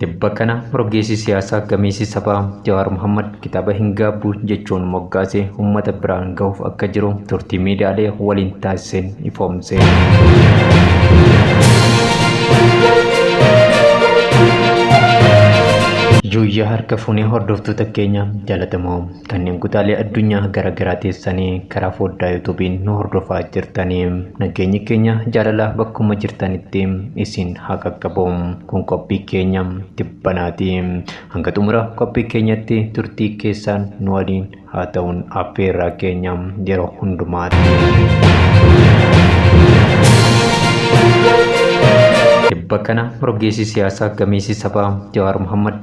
Tibba kana rogeessi siyaasaa gameessi sabaa Jawaar Mohammad kitaaba hin gaabbu jechuun moggaase uummata biraan gahuuf akka jiru turtii miidiyaalee waliin taasiseen ifoomse. Yuuyyaa harka fuunee hordoftoota keenya jaalatamoo. Kanneen kutaalee addunyaa gara garaa teessanii karaa foddaa yuutuubiin nu hordofaa jirtanii nageenyi keenya jaalalaa bakkuma jirtanitti isin haa qaqqabu. Kun qophii keenya tibbanaati. Hanga xumura qophii keenyatti turtii keessaan nu waliin haa ta'uun affeerraa keenya yeroo hundumaatti. Tibba kana rogeessi siyaasaa gameessi sabaa Jawaar Mohammad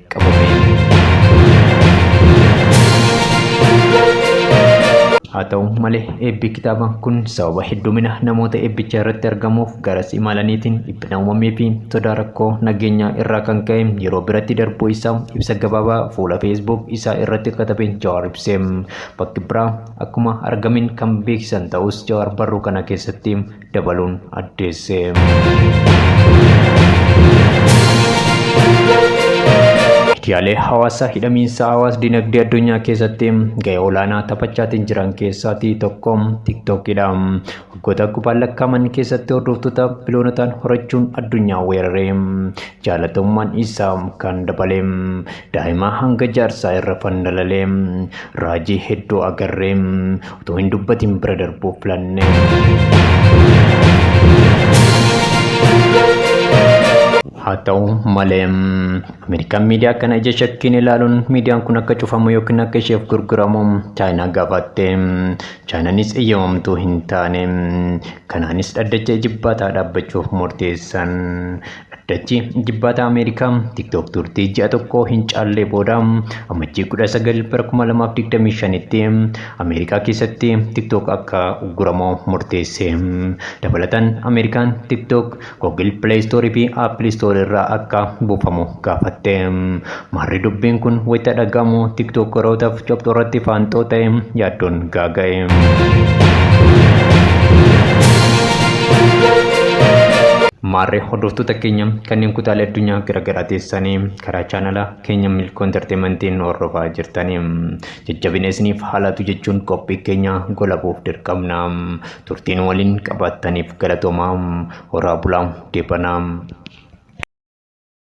Haa ta'u malee eebbi kitaaba kun sababa heddumina namoota eebbicha irratti argamuuf garas imalaniitiin dhiphina uumamee fi sodaa rakkoo nageenyaa irraa kan ka'e yeroo biratti darbuu isaa ibsa gabaabaa fuula Facebook isaa irratti katabe Jawaar ibse. Bakki biraa akkuma argameen kan beeksisan ta'us Jawaar barruu kana keessatti dabaluun addeesse. Miidiyaalee hawaasaa hidhamiinsa hawaas dinagdee addunyaa keessatti ga'ee olaanaa taphachaatiin jiran keessaatii tokko TikTokidha. Waggoota kubbaan lakkaa'aman keessatti hordoftoota biloonotaan horachuun addunyaa weeraree jaalatamummaan isaa kan dabale daa'imaa hanga jaarsaa irra fandalalee raajii hedduu agarree Utuu hin dubbatin bira darbuu filanne. Haa ta'u malee Ameerikaan miidiyaa kana ija shakkiin ilaaluun miidiyaan kun akka cufamu yookiin akka isheef gurguramu Chaayinaa gaafatte. Chaayinaanis eeyyamamtuu hin taane. Kanaanis dhaddacha ijibbaataa dhaabbachuuf murteessan. Dachii Ijibbaataa Ameerikaa TikTok turtii ji'a tokkoo hin caallee booda Amajjii 19 bara 2025tti Ameerikaa keessatti TikTok akka ugguramu murteesse. Dabalataan Ameerikaan TikTok Google Play Store fi Apple Store irraa akka buufamu gaafatte. Maarree dubbiin kun wayita dhaga'amu tiktookerootaaf copxoo irratti faanxoo ta'e yaaddoon gaaga'e. Maarree hordoftoota keenya kanneen kutaalee addunyaa garaagaraa teessanii karaa chaanala keenya Milkoo Intarteemantiin hordofaa jirtanii jajjabina isiniif haalaatu jechuun qophii keenya golabuuf dirqamna. Turtiin waliin qabaattaniif galatoomaa horaa bulaa deebanaa.